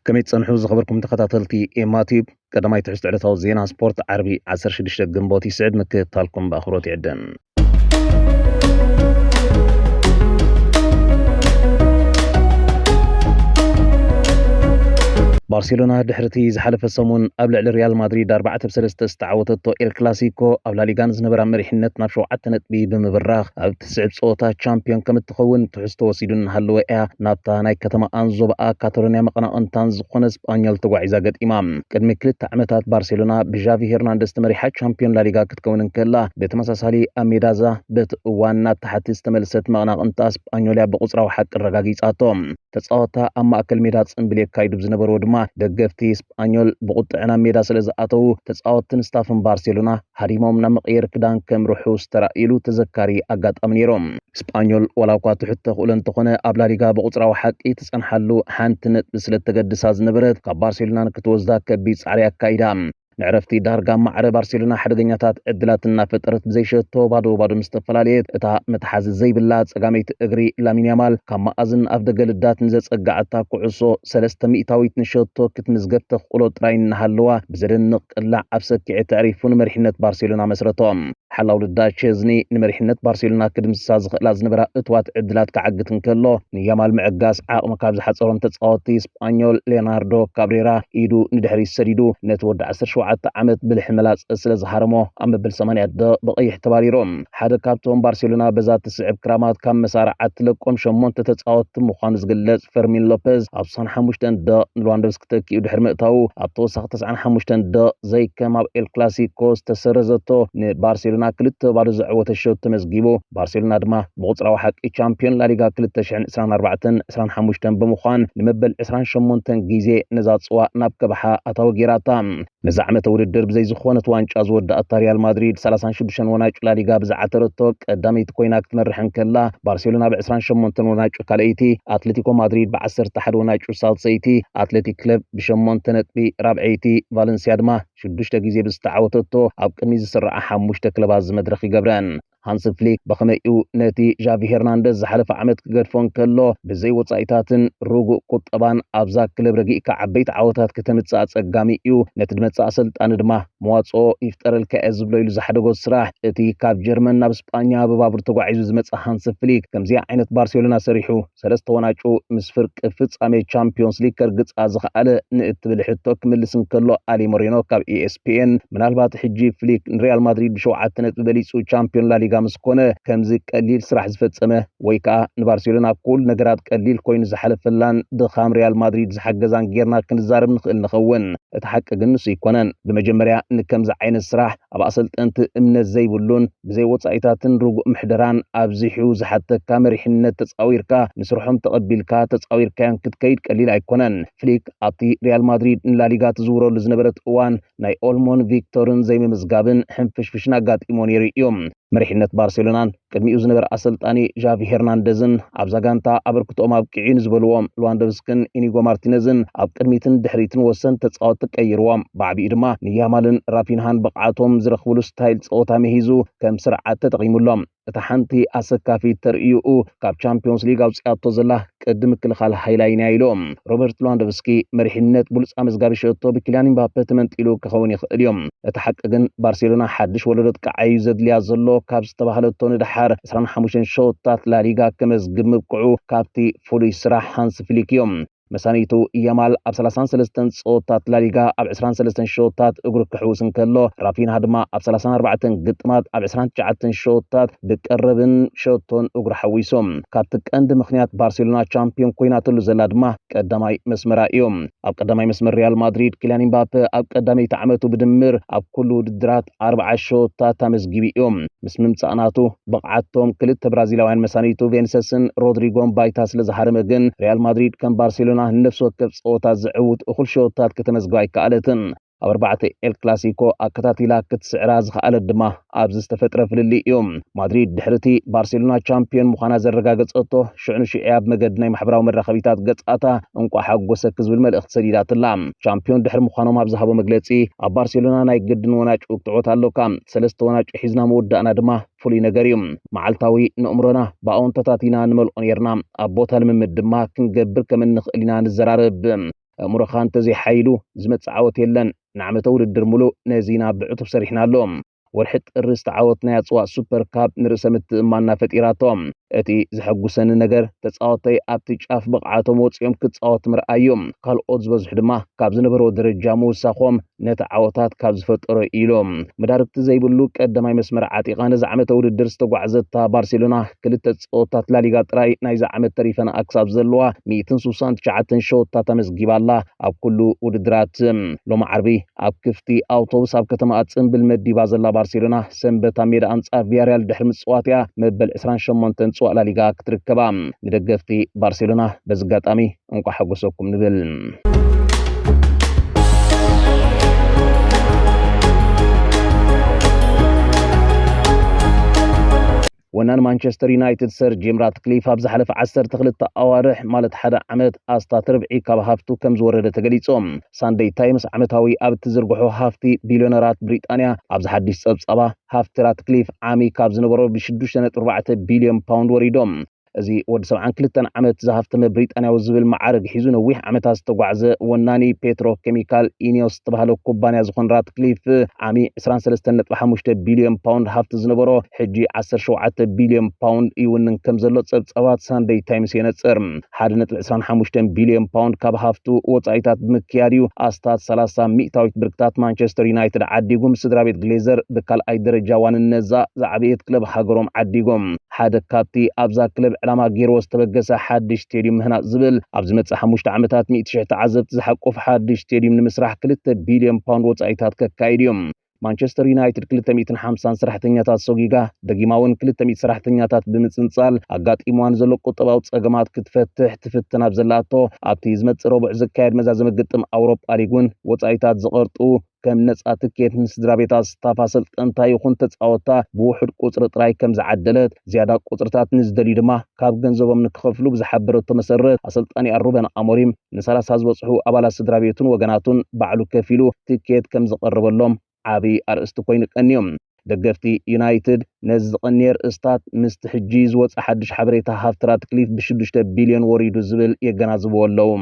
ከመይ ትጸንሑ ዝኸበርኩም ተኸታተልቲ ኤማ ቲዩብ ቀዳማይ ትሕዝቶ ዕለታዊ ዜና ስፖርት ዓርቢ 16 ግንቦት ይስዕድ ምክትታልኩም ብኣኽብሮት ይዕድም ባርሴሎና ድሕርቲ ዝሓለፈ ሰሙን ኣብ ልዕሊ ሪያል ማድሪድ 4 ብ3 ዝተዓወተቶ ኤል ክላሲኮ ኣብ ላሊጋ ንዝነበራ መሪሕነት ናብ ሸውዓተ ነጥቢ ብምብራኽ ኣብ እትስዕብ ፀወታ ቻምፒዮን ከም እትኸውን ትሕዝቶ ወሲዱ እናሃለወ እያ ናብታ ናይ ከተማኣን ዞባኣ ካታሎንያ መቐናቕንታን ዝኾነ ስጳኞል ተጓዒዛ ገጢማ። ቅድሚ ክልተ ዓመታት ባርሴሎና ብዣቪ ሄርናንደስ ተመሪሓ ቻምፒዮን ላሊጋ ክትከውን እንከላ ብተመሳሳሊ ኣብ ሜዳዛ በቲ እዋን ናብ ታሕቲ ዝተመልሰት መቐናቕንታ ስጳኞል እያ ብቑፅራዊ ሓቂ ኣረጋጊፃቶ። ተጻወትታ ኣብ ማእከል ሜዳ ጽምብል የካይዱ ብዝነበርዎ ድማ ደገፍቲ ስጳኞል ብቑጥዐ ናብ ሜዳ ስለ ዝኣተዉ ተጻወትቲን ስታፍን ባርሴሎና ሃዲሞም ናብ መቐየሪ ክዳን ከምርሑ ዝተራእዩሉ ተዘካሪ ኣጋጣሚ ነይሩ። ስጳኞል ዋላኳ ትሑት ተኽእሎ እንተኾነ ኣብ ላሊጋ ብቑጽራዊ ሓቂ ትጸንሓሉ ሓንቲ ነጥቢ ስለ እተገድሳ ዝነበረት ካብ ባርሴሎና ንክትወስዳ ከቢድ ጻዕሪ ኣካይዳ። ንዕረፍቲ ዳርጋ ማዕረ ባርሴሎና ሓደገኛታት ዕድላት እናፈጠረት ብዘይሸቶ ባዶ ባዶ ምስ ተፈላለየት እታ መትሓዚ ዘይብላ ጸጋመይቲ እግሪ ላሚን ያማል ካብ መኣዝን ኣፍ ደገ ልዳት ንዘጸግዓታ ኩዕሶ ሰለስተ ሚእታዊት ንሸቶ ክትምዝገብ ተኽእሎ ጥራይ እናሃለዋ ብዘደንቕ ቅላዕ ኣብ ሰኪዔ ተዕሪፉ ንመሪሕነት ባርሴሎና መስረቶም። ሓላው ልዳ ቼዝኒ ንመሪሕነት ባርሴሎና ክድምስሳ ዝኽእላ ዝነበራ እትዋት ዕድላት ክዓግት እንከሎ ንያማል ምዕጋስ ዓቕሚ ካብ ዝሓፀሮም ተፃወቲ ስጳኞል ሌናርዶ ካብሬራ ኢዱ ንድሕሪት ሰዲዱ ነቲ ወዲ 17 ዓመት ብልሒ መላፀ ስለ ዝሃረሞ ኣብ መበል 80 ደ ብቐይሕ ተባሪሩ ሓደ ካብቶም ባርሴሎና በዛ ትስዕብ ክራማት ካብ መሳርዓት ትለቆም ሸሞንተ ተፃወቲ ምዃኑ ዝግለፅ ፈርሚን ሎፐዝ ኣብ ሳን ሓሙሽተ ደ ንሉዋንዶቭስኪ ክተኪኡ ድሕሪ ምእታዉ ኣብ ተወሳኺ ተስዓን ሓሙሽተን ደቕ ዘይከም ኣብ ኤል ክላሲኮ ዝተሰረዘቶ ንባርሴሎና ክልተ ባዶ ዘዕወተ ሸውት ተመዝጊቡ። ባርሴሎና ድማ ብቑጽራዊ ሓቂ ቻምፕዮን ላሊጋ ክልተ ሽሕን ዕስራን ኣርባዕተን ዕስራን ሓሙሽተን ብምዃን ንመበል ዕስራን ሸሞንተን ግዜ ነዛ ጽዋ ናብ ከብሓ ኣታዊ ገይራታ። ነዚ ዓመተ ውድድር ብዘይ ዝኾነት ዋንጫ ዝወዳእታ ሪያል ማድሪድ 36 ወናጩ ላሊጋ ብዝዓተረቶ ቀዳመይቲ ኮይና ክትመርሕ እንከላ ባርሴሎና ብ28 ወናጩ ካልኣይቲ፣ ኣትሌቲኮ ማድሪድ ብ11 ወናጩ ሳልሰይቲ፣ ኣትሌቲክ ክለብ ብሸሞንተ ነጥቢ ራብዐይቲ፣ ቫለንሲያ ድማ ሽዱሽተ ግዜ ብዝተዓወተቶ ኣብ ቅድሚት ዝስርዓ ሓሙሽተ ክለባት እዚ መድረኽ ይገብረን። ሃንሲ ፍሊክ ብኸመይ እዩ ነቲ ዣቪ ሄርናንደዝ ዝሓለፈ ዓመት ክገድፎ እንከሎ ብዘይ ወጻኢታትን ርጉእ ቁጠባን ኣብዛ ክለብ ረጊእካ ዓበይቲ ዓወታት ከተምጽእ ኣጸጋሚ እዩ፣ ነቲ ድመጽእ ኣሰልጣኒ ድማ መዋጽኦ ይፍጠረልካ እየ ዝብሎ ኢሉ ዝሓደጎ ስራሕ። እቲ ካብ ጀርመን ናብ ስጳኛ ብባቡር ተጓዒዙ ዝመጽእ ሃንሲ ፍሊክ ከምዚኣ ዓይነት ባርሴሎና ሰሪሑ። ሰለስተ ዋንጫኡ ምስ ፍርቂ ፍጻሜ ቻምፒዮንስ ሊግ ከርግጻ ዝኸኣለ ንእትብል ሕቶ ክምልስ እንከሎ ኣሊ ሞሪኖ ካብ ኢኤስፒኤን ምናልባት ሕጂ ፍሊክ ንሪያል ማድሪድ ብሸውዓተ ነጥቢ በሊጹ ቻምፒዮን ላሊጋ ምስ ኮነ ከምዚ ቀሊል ስራሕ ዝፈጸመ ወይ ከኣ ንባርሴሎና ኩሉ ነገራት ቀሊል ኮይኑ ዝሓለፈላን ድኻም ሪያል ማድሪድ ዝሓገዛን ጌርና ክንዛረብ ንኽእል ንኸውን። እቲ ሓቂ ግን ንሱ ኣይኮነን። ብመጀመርያ ንከምዚ ዓይነት ስራሕ ኣብ ኣሰልጠንቲ እምነት ዘይብሉን ብዘይ ወጻኢታትን ርጉእ ምሕደራን ኣብዚሑ ዝሓተካ መሪሕነት ተጻዊርካ ንስርሖም ተቐቢልካ ተጻዊርካዮን ክትከይድ ቀሊል ኣይኮነን። ፍሊክ ኣብቲ ሪያል ማድሪድ ንላሊጋ ትዝውረሉ ዝነበረት እዋን ናይ ኦልሞን ቪክቶርን ዘይምምዝጋብን ሕንፍሽፍሽን ኣጋጢምዎ ነይሩ እዩ። መሪሕነት ባርሴሎናን ቅድሚኡ ዝነበረ ኣሰልጣኒ ዣቪ ሄርናንደዝን ኣብዛ ጋንታ ኣበርክትኦም ኣብቂዑ ንዝበልዎ ልዋንዶቭስክን ኢኒጎ ማርቲነዝን ኣብ ቅድሚትን ድሕሪትን ወሰንቲ ተጻወቲ ቀይርዎም። ብዓቢኡ ድማ ንያማልን ራፊንሃን ብቕዓቶም ዝረኽብሉ ስታይል ጸወታ ምሂዙ ከም ስርዓት ተጠቒሙሎም። እታ ሓንቲ ኣሰካፊት ተርእዩኡ ካብ ቻምፕዮንስ ሊግ ኣውጺኣቶ ዘላ ቅዲ ምክልኻል ሃይላይ ናይ ኢሉ። ሮበርት ሉዋንዶቭስኪ መሪሕነት ብሉጽ ኣመዝጋቢ ሸቶ ብኪልያን ኢምባፐ ተመንጢሉ ክኸውን ይኽእል እዩ። እቲ ሓቂ ግን ባርሴሎና ሓድሽ ወለዶ ጥቃዓይ እዩ ዘድልያ ዘሎ ካብ ዝተባህለቶ ንደሓር ዕስራን ሓሙሽተን ሸቶታት ላሊጋ ከመዝግብ ምብቅዑ ካብቲ ፍሉይ ስራሕ ሃንሲ ፍሊክ እዩ። መሳንይቱ ያማል ኣብ ሰላሳን ሰለስተን ጸወታት ላሊጋ ኣብ ዕስራን ሰለስተን ሸቶታት እግሩ ክሕውስ እንከሎ ራፊንሃ ድማ ኣብ ሰላሳን ኣርባዕተን ግጥማት ኣብ ዕስራን ትሽዓተን ሸቶታት ብቀረብን ሸቶን እግሩ ሓዊሱ ካብቲ ቀንዲ ምክንያት ባርሴሎና ቻምፒዮን ኮይናትሉ ዘላ ድማ ቀዳማይ መስመራ እዩ። ኣብ ቀዳማይ መስመር ሪያል ማድሪድ ኪልያን ኢምባፔ ኣብ ቀዳመይቲ ዓመቱ ብድምር ኣብ ኩሉ ውድድራት ኣርብዓ ሸወታት ኣመዝጊቡ እዩ። ምስ ምምፃእ ናቱ ብቕዓቶም ክልተ ብራዚላውያን መሳኒቱ ቬንሰስን ሮድሪጎን ባይታ ስለ ዝሃረመ ግን ሪያል ማድሪድ ከም ባርሴሎና ንነፍሲ ወከፍ ፀወታ ዝዕውት እኹል ሸወታት ከተመዝግብ ኣይከኣለትን። ኣብ ኣርባዕተ ኤል ክላሲኮ ኣከታቲላ ክትስዕራ ዝኸኣለት ድማ ኣብዚ ዝተፈጥረ ፍልልይ እዩ። ማድሪድ ድሕሪ እቲ ባርሴሎና ቻምፒዮን ምዃና ዘረጋገጸቶ ሽዑ ንሽዑ እያ ብመገዲ ናይ ማሕበራዊ መራኸቢታት ገጻታ እንቋዕ ሓጎሰኪ ዝብል መልእኽቲ ሰዲዳትላ። ቻምፒዮን ድሕሪ ምዃኖም ኣብ ዝሃቦ መግለጺ ኣብ ባርሴሎና ናይ ግድን ወናጩ ክትዕወት ኣሎካ፣ ሰለስተ ወናጩ ሒዝና ምውዳእና ድማ ፍሉይ ነገር እዩ። መዓልታዊ ንእምሮና ብኣወንታታት ኢና ንመልኦ ነይርና፣ ኣብ ቦታ ልምምድ ድማ ክንገብር ከም እንኽእል ኢና ንዘራረብ። ኣእምሮኻ እንተዘይ ሓይሉ ዝመጽእ ዓወት የለን። ንዓመተ ውድድር ሙሉእ ነዚ ኢና ብዕቱብ ሰሪሕና ኣሎ። ወርሒ ጥሪ ዝተዓወትናያ ኣጽዋእ ሱፐር ካፕ ንርእሰ ምትእምማንና ፈጢራቶ። እቲ ዘሐጉሰኒ ነገር ተጻወተይ ኣብቲ ጫፍ ብቕዓቶም ወጺኦም ክጻወት ምርኣይ እዩ። ካልኦት ዝበዝሑ ድማ ካብ ዝነበርዎ ደረጃ ምውሳኾም ነቲ ዓወታት ካብ ዝፈጠሮ ኢሎም መዳርግቲ ዘይብሉ ቀዳማይ መስመር ዓጢቓ ነዚ ዓመተ ውድድር ዝተጓዕዘታ ባርሴሎና ክልተ ፀወታት ላሊጋ ጥራይ ናይዚ ዓመት ተሪፈንኣ ክሳብ ዘለዋ ሚእትን ስሳን ትሽዓተን ሸወታት ኣመስጊባ ኣላ ኣብ ኩሉ ውድድራት ሎሚ ዓርቢ ኣብ ክፍቲ ኣውቶቡስ ኣብ ከተማኣ ፅምብል መዲባ ዘላ ባርሴሎና ሰንበት ኣብ ሜዳ ኣንፃር ቪያርያል ድሕሪ ምፅዋት እያ መበል ዕስራን ሸሞንተን ፅዋእ ላሊጋ ክትርከባ ንደገፍቲ ባርሴሎና በዚ ኣጋጣሚ እንቋዕ ሓጎሰኩም ንብል። ወናን ማንቸስተር ዩናይትድ ሰር ጂም ራትክሊፍ ኣብ ዝሓለፈ 12 ኣዋርሕ ማለት ሓደ ዓመት ኣስታት ርብዒ ካብ ሃፍቱ ከም ዝወረደ ተገሊጾም። ሳንደይ ታይምስ ዓመታዊ ኣብ እትዝርግሖ ሃፍቲ ቢልዮነራት ብሪጣንያ ኣብዚ ሓድሽ ጸብጻባ ሃፍቲ ራትክሊፍ ዓሚ ካብ ዝነበሮ ብ6.4 ቢልዮን ፓውንድ ወሪዶም እዚ ወዲ ሰብዓን ክልተን ዓመት ዝሃፍተመ ብሪጣንያዊ ዝብል መዓርግ ሒዙ ነዊሕ ዓመታት ዝተጓዕዘ ወናኒ ፔትሮ ኬሚካል ኢኒዮስ ዝተባሃለ ኩባንያ ዝኾን ራትክሊፍ ዓሚ 23.5 ቢልዮን ፓውንድ ሃፍቲ ዝነበሮ ሕጂ 17 ቢልዮን ፓውንድ ይውንን ከም ዘሎ ጸብጻባት ሳንደይ ታይምስ የነጽር። 1.25 ቢልዮን ፓውንድ ካብ ሃፍቱ ወጻኢታት ብምክያድ እዩ ኣስታት 30 ሚእታዊት ብርክታት ማንቸስተር ዩናይትድ ዓዲጉም ስድራ ቤት ግሌዘር ብካልኣይ ደረጃ ዋንነዛ ዝዓበየት ክለብ ሃገሮም ዓዲጎም ሓደ ካብቲ ኣብዛ ክለብ ዕላማ ገይርዎ ዝተበገሰ ሓድሽ ስቴድዩም ምህናፅ ዝብል ኣብ ዝመፅእ ሓሙሽተ ዓመታት ሚእቲ ሽሕ ተዓዘብቲ ዝሓቁፍ ሓድሽ ስቴድዩም ንምስራሕ ክልተ ቢልዮን ፓውንድ ወፃኢታት ከካይድ እዩ። ማንቸስተር ዩናይትድ ክልተ ሚእትን ሓምሳን ሰራሕተኛታት ሰጒጋ ደጊማ እውን ክልተ ሚእቲ ሰራሕተኛታት ብምፅንፃል ኣጋጢምዋ ንዘሎ ቁጠባዊ ፀገማት ክትፈትሕ ትፍትን ኣብ ዘላቶ ኣብቲ ዝመፅእ ረቡዕ ዝካየድ መዛዘሚ ግጥም ኣውሮጳ ሊግ እውን ወፃኢታት ዝቐርጡ ከም ነፃ ትኬት ንስድራቤት ኣስታፍ ኣሰልጠንታ ይኹን ተፃወታ ብውሑድ ቁፅሪ ጥራይ ከም ዝዓደለት ዝያዳ ቁፅርታት ንዝደልዩ ድማ ካብ ገንዘቦም ንክኸፍሉ ብዝሓበረቶ መሰረት ኣሰልጣኒኣ ሩበን ኣሞሪም ንሰላሳ ዝበፅሑ ኣባላት ስድራቤቱን ወገናቱን ባዕሉ ከፊሉ ትኬት ከም ዘቐረበሎም ዓብይ ኣርእስቲ ኮይኑ ቀንዩ። ደገፍቲ ዩናይትድ ነዚ ዝቐንየ ርእስታት ምስቲ ሕጂ ዝወፀ ሓድሽ ሓበሬታ ሃፍቲ ራትክሊፍ ብሽዱሽተ ቢልዮን ወሪዱ ዝብል የገናዝብዎ ኣለዉ።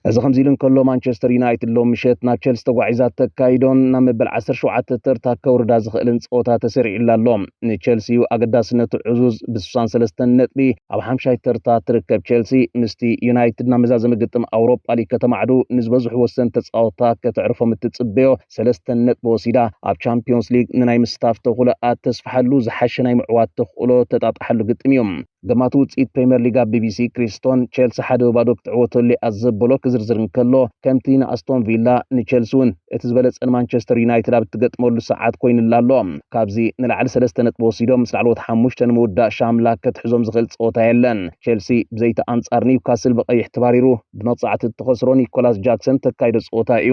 እዚ ከምዚ ኢሉ እንከሎ ማንቸስተር ዩናይትድ ሎም ምሸት ናብ ቸልሲ ተጓዒዛ ተካይዶን ናብ መበል 17 ተርታ ከውርዳ ዝኽእልን ፀወታ ተሰሪዑላ ኣሎ ንቸልሲ ኣገዳስነቱ ዕዙዝ ብ63 ነጥቢ ኣብ ሓምሻይ ተርታ ትርከብ ቼልሲ ምስቲ ዩናይትድ ናብ መዛዘሚ ግጥም ኣውሮፓ ሊግ ከተማዕዱ ንዝበዝሑ ወሰን ተፃወታ ከተዕርፎም እትፅበዮ ሰለስተ ነጥቢ ወሲዳ ኣብ ቻምፒዮንስ ሊግ ንናይ ምስታፍ ተኽእሎኣ ተስፍሓሉ ዝሓሸ ናይ ምዕዋት ተኽእሎ ተጣጣሓሉ ግጥም እዩ። ገማቲ ውፅኢት ፕሪምየር ሊግ ኣብ ቢቢሲ ክሪስቶን ቼልሲ ሓደ ባዶ ክትዕወተሉ እያ ዘበሎ ክዝርዝር እንከሎ ከምቲ ንኣስቶን ቪላ ንቼልሲ እውን እቲ ዝበለፀ ንማንቸስተር ዩናይትድ ኣብ እትገጥመሉ ሰዓት ኮይኑላ ኣሎ። ካብዚ ንላዕሊ ሰለስተ ነጥቢ ወሲዶም ምስ ላዕለዎት ሓሙሽተ ንምውዳእ ሻምላክ ከትሕዞም ዝኽእል ጸወታ የለን። ቼልሲ ብዘይቲ ኣንጻር ኒውካስል ብቀይሕ ተባሪሩ ብመቕጻዕቲ እተኸስሮ ኒኮላስ ጃክሰን እተካይዶ ጸወታ እዩ።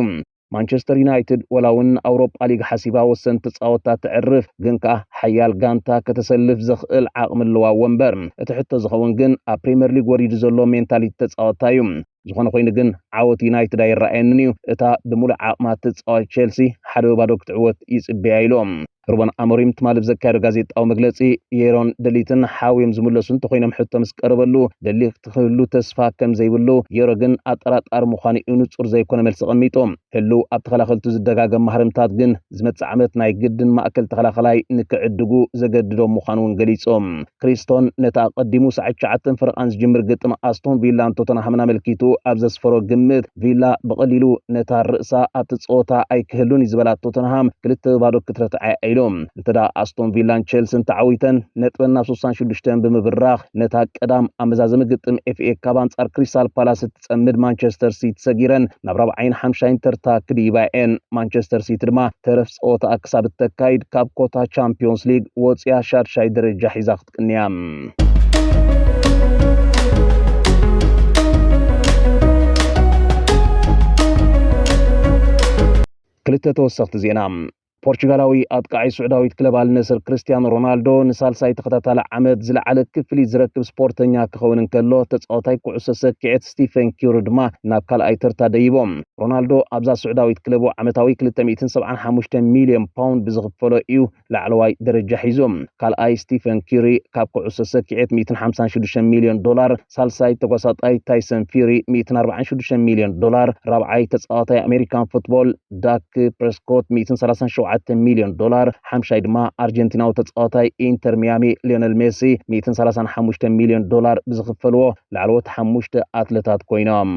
ማንቸስተር ዩናይትድ ወላ እውን ንኣውሮጳ ሊግ ሓሲባ ወሰንቲ ተጻወታ ተዕርፍ ግን ከኣ ሓያል ጋንታ ከተሰልፍ ዘኽእል ዓቕሚ ኣለዋ እወ እምበር እቲ ሕቶ ዝኸውን ግን ኣብ ፕሪምየር ሊግ ወሪዱ ዘሎ ሜንታሊቲ ተጻወታ እዩ። ዝኾነ ኮይኑ ግን ዓወት ዩናይትድ ኣይረኣየንን እዩ፣ እታ ብምሉእ ዓቕማ እትጻወት ቼልሲ ሓደ ወይ ባዶ ክትዕወት ይጽበያ ኢሉ። ሩበን ኣሞሪም ትማሊ ብዘካየዶ ጋዜጣዊ መግለጺ የሮን ደሊትን ሓውዮም ዝምለሱ እንተኾይኖም ሕቶ ምስ ቀረበሉ ደሊ ክህሉ ተስፋ ከም ዘይብሉ የሮ ግን ኣጠራጣሪ ምዃኑ እዩ ንጹር ዘይኮነ መልሲ ቀሚጡ። ህሉው ኣብ ተኸላኸልቱ ዝደጋገም ማህረምታት ግን ዝመጽእ ዓመት ናይ ግድን ማእከል ተኸላኸላይ ንክዕድጉ ዘገድዶም ምዃኑ እውን ገሊጾም። ክሪስቶን ነቲ ኣቐዲሙ ሰዓት ትሽዓተን ፈረቓን ዝጅምር ግጥም ኣስቶን ቪላን ቶተንሃምን ኣመልኪቱ ኣብ ዘስፈሮ ግምት ቪላ ብቐሊሉ ነታ ርእሳ ኣብቲ ጸወታ ኣይክህሉን እዩ ዝበላ ቶተንሃም ክልተ ባዶ ክትረትዓ እያ ኢሉ። እንተ ኣስቶን ቪላን ቼልሲን ተዓዊተን ነጥበን ናብ 66 ብምብራኽ ነታ ቀዳም ኣብ መዛዘሚ ግጥም ኤፍኤ ካብ ኣንጻር ክሪስታል ፓላስ ክትጸምድ ማንቸስተር ሲቲ ሰጊረን ናብ ራብዓይን ሓምሻይን ተርታ ክድይባ እየን። ማንቸስተር ሲቲ ድማ ተረፍ ጸወታኣ ክሳብ እተካይድ ካብ ኮታ ቻምፒዮንስ ሊግ ወጽያ ሻድሻይ ደረጃ ሒዛ ክትቅንያ። ክልተ ተወሰኽቲ ዜና ፖርቹጋላዊ ኣጥቃዒ ስዑዳዊት ክለብ ኣልነስር ክርስትያኖ ሮናልዶ ንሳልሳይ ተኸታታሊ ዓመት ዝለዓለ ክፍሊት ዝረክብ ስፖርተኛ ክኸውን እንከሎ ተጻዋታይ ኩዕሶ ሰኪዔት ስቲፈን ኪሩ ድማ ናብ ካልኣይ ተርታ ደይቦም። ሮናልዶ ኣብዛ ስዑዳዊት ክለቡ ዓመታዊ 275 ሚልዮን ፓውንድ ብዝኽፈሎ እዩ ላዕለዋይ ደረጃ ሒዙ። ካልኣይ ስቲፈን ኪሪ ካብ ኩዕሶ ሰኪዔት 156 ሚልዮን ዶላር ሳልሳይ ተጓሳጣይ ታይሰን ፊሪ 146 ሚልዮን ዶላር፣ ራብዓይ ተጻዋታይ ኣሜሪካን ፉትቦል ዳክ ፕሬስኮት 137 ሚልዮን ዶላር፣ ሓምሻይ ድማ ኣርጀንቲናዊ ተጻዋታይ ኢንተር ሚያሚ ሊዮነል ሜሲ 135 ሚልዮን ዶላር ብዝኽፈልዎ ላዕለዎት ሓሙሽተ ኣትለታት ኮይኖም።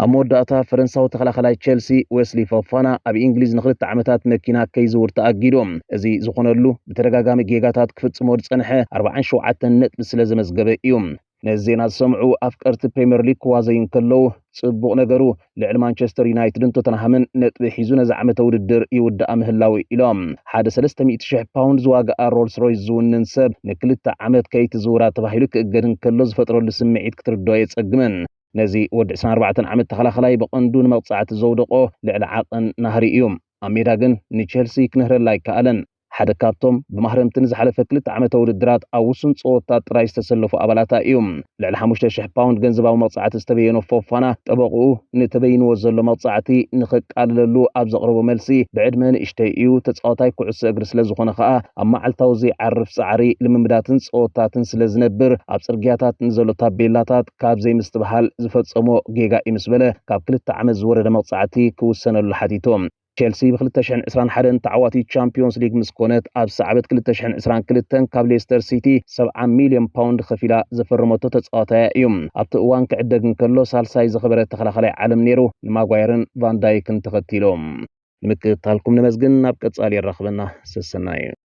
ኣብ መወዳእታ ፈረንሳዊ ተኸላኸላይ ቸልሲ ዌስሊ ፎፋና ኣብ ኢንግሊዝ ንክልተ ዓመታት መኪና ከይዝውር ተኣጊዱ። እዚ ዝኾነሉ ብተደጋጋሚ ጌጋታት ክፍጽሞ ዝጸንሐ ኣርብዓን ሸውዓተን ነጥቢ ስለ ዘመዝገበ እዩ። ነዚ ዜና ዝሰምዑ ኣፍቀርቲ ፕሪምየር ሊግ ክዋዘዩ እንከለዉ፣ ጽቡቕ ነገሩ ልዕሊ ማንቸስተር ዩናይትድን ቶተንሃምን ነጥቢ ሒዙ ነዚ ዓመተ ውድድር ይውድኣ ምህላዉ ኢሎም። ሓደ ሰለስተ ሚእቲ ሽሕ ፓውንድ ዝዋግኣ ሮልስ ሮይስ ዝውንን ሰብ ንክልተ ዓመት ከይትዝውራ ተባሂሉ ክእገድ እንከሎ ዝፈጥረሉ ስምዒት ክትርድኦ ኣየጸግምን። ነዚ ወዲ ዕስራን ኣርባዕተን ዓመት ተኸላኸላይ ብቐንዱ ንመቕጻዕቲ ዘውደቖ ልዕሊ ዓቐን ናህሪ እዩ። ኣብ ሜዳ ግን ንቸልሲ ክንህረላ ኣይከኣለን። ሓደ ካብቶም ብማህረምቲ ንዝሓለፈ ክልተ ዓመተ ውድድራት ኣብ ውሱን ጸወታት ጥራይ ዝተሰለፉ ኣባላታ እዩ። ልዕሊ ሓሙሽተ ሽሕ ፓውንድ ገንዘባዊ መቕጻዕቲ ዝተበየኖ ፎፋና፣ ጠበቕኡ ንተበይንዎ ዘሎ መቕጻዕቲ ንኸቃልለሉ ኣብ ዘቕረቦ መልሲ ብዕድመ ንእሽተይ እዩ፣ ተጻዋታይ ኩዕሶ እግሪ ስለዝኾነ ከኣ ኣብ መዓልታዊ ዘይዓርፍ ጻዕሪ ልምምዳትን ጸወታትን ስለዝነብር ኣብ ጽርግያታት ንዘሎ ታቤላታት ካብ ዘይምስትብሃል ዝፈጸሞ ጌጋ እዩ ምስ በለ ካብ ክልተ ዓመት ዝወረደ መቕጻዕቲ ክውሰነሉ ሓቲቱ። ቼልሲ ብ ክልተ ሽሕን ዕስራን ሓደን ተዓዋቲት ቻምፕዮንስ ሊግ ምስ ኮነት ኣብ ሰዓበት ክልተ ሽሕን ዕስራን ክልተን ካብ ሌስተር ሲቲ ሰብዓ ሚልዮን ፓውንድ ከፊላ ዘፈረመቶ ተጻዋታያ እዩ። ኣብቲ እዋን ክዕደግ እንከሎ ሳልሳይ ዝኸበረ ተኸላኻላይ ዓለም ነይሩ፣ ንማጓየርን ቫን ዳይክን ተኸቲሉ። ንምክትታልኩም ነመስግን ናብ ቀጻሊ የራኽበና ሰሰናዩ።